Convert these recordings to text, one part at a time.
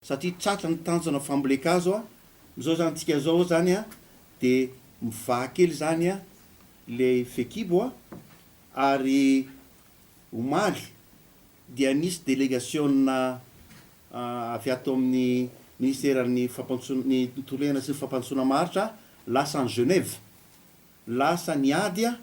Satria tratra ny tanjona fambolen-kazo a, izao izany tsika izao izany a, dia mivaha kely izany a ilay fekibo a, ary omaly dia nisy delegasiona avy ato amin'ny ministeran'ny fampantso ny tontolo iainana sy ny fampandrosoana maharitra a, lasa any Genève, lasa niady a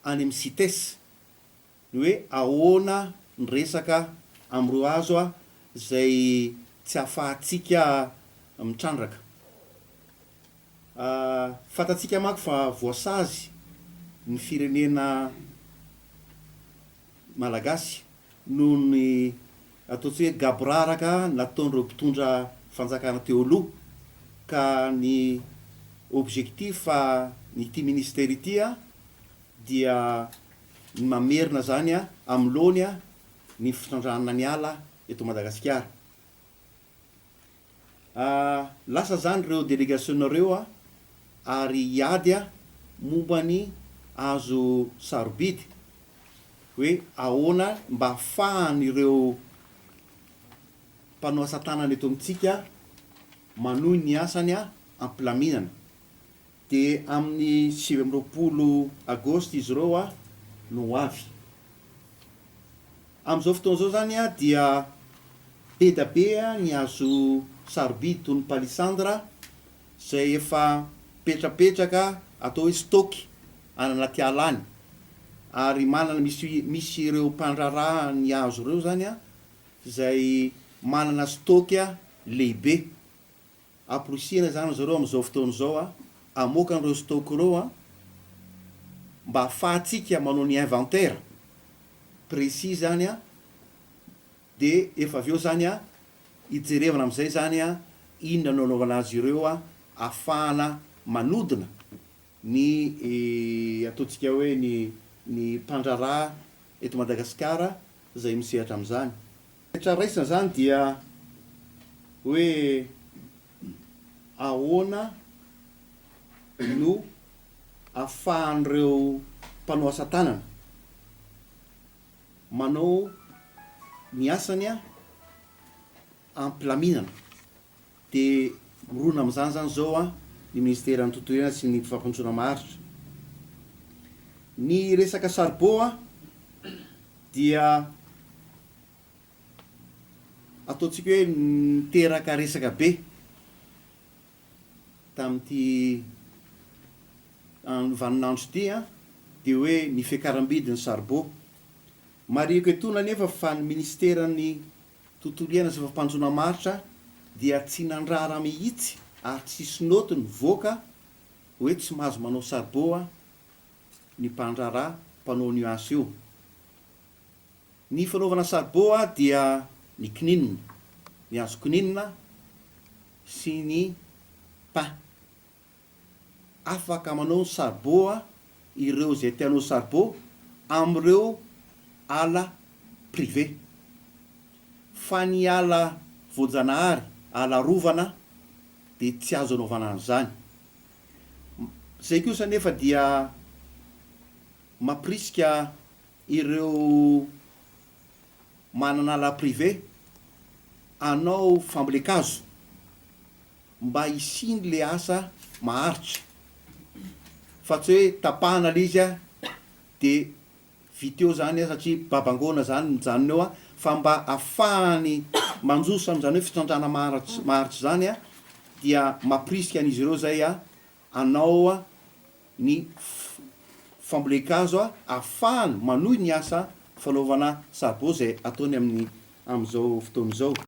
any amin'ny Cites. Ny hoe ahoana ny resaka amin'ireo hazo izay tsy ahafahantsika mitrandraka? Fantatsika manko fa voasazy ny firenena Malagasy noho ny ataontsika hoe gaboraraka nataon'ireo mpitondra fanjakana teo aloha ka ny objectif ny ity ministera ity dia ny mamerina izany amloany ny fitrandrahana ny ala eto Madagasikara. Lasa izany ireo delegasionina ireo ary hiady momba ny hazo sarobidy hoe ahoana mba afahan'ireo mpanao asa tanana eto amintsika manohy ny asany ampilaminana. Dia amin'ny sivy amby roapolo Agosto izy ireo a no ho avy. Amin'izao fotoana izao izany a dia be da be ny hazo sarobidy toy ny palissandre izay efa mipetrapetraka atao hoe stock any anaty ala any ary manana misy misy ireo mpandraharaha ny hazo ireo izany a izay manana stock lehibe. Amporisihina izany ry zareo amin'izao fotoana izao a! Hamoaka an'ireo stock ireo a! Mba hahafahantsika manao ny inventaire précis izany a! Dia efa avy eo izany a, hijerevana amin'izay izany a, inona no hanaovana azy ireo a, hahafahana manodina ny ataontsika hoe ny ny mpandraharaha eto Madagasikara izay misehatra amin'izany. Rehetra raisina izany dia hoe ahoana no ahafahan'ireo mpanao asa tanana manao ny asany ampilaminana. Dia mirona amin'izany izany izao ny Ministeran'ny Tontolo Iainana sy ny Fampandrosoana Maharitra. Ny resaka saribô dia ataontsika hoe niteraka resaka be tamin'ity vaninandro ity, dia hoe ny fiakaram-bidin'ny saribô. Marihiko etoana anefa fa ny Ministeran'ny. Tontolo iainana sy fampanjoana maritra dia tsy nandrara mihitsy ary tsisy note nivoaka hoe tsy mahazo manao sarbo a ny mpandrara mpanao nuance io. Ny fanaovana sarbo a dia ny kininina, ny hazo kininina sy ny pain. afaka manao ny sarbo a ireo izay te hanao sarbo amin'ireo ala privé fa ny ala voajanahary, ala arovana dia tsy azo anaovana an'izany. Izay kosa anefa dia mampirisika ireo manana la privé anao fambolen-kazo mba hisiany le asa maharitra fa tsy hoe tapahana le izy de vita eo zany satria babangoana zany mijanona eo fa mba afahany manjosa zany hoe fitrandrahana maharitra zany dia mampirisika an'izy ireo zay hanao ny fambolen-kazo ahafahany manohy ny asa fanaovana saribao izay ataony amin'izao fotoana izao.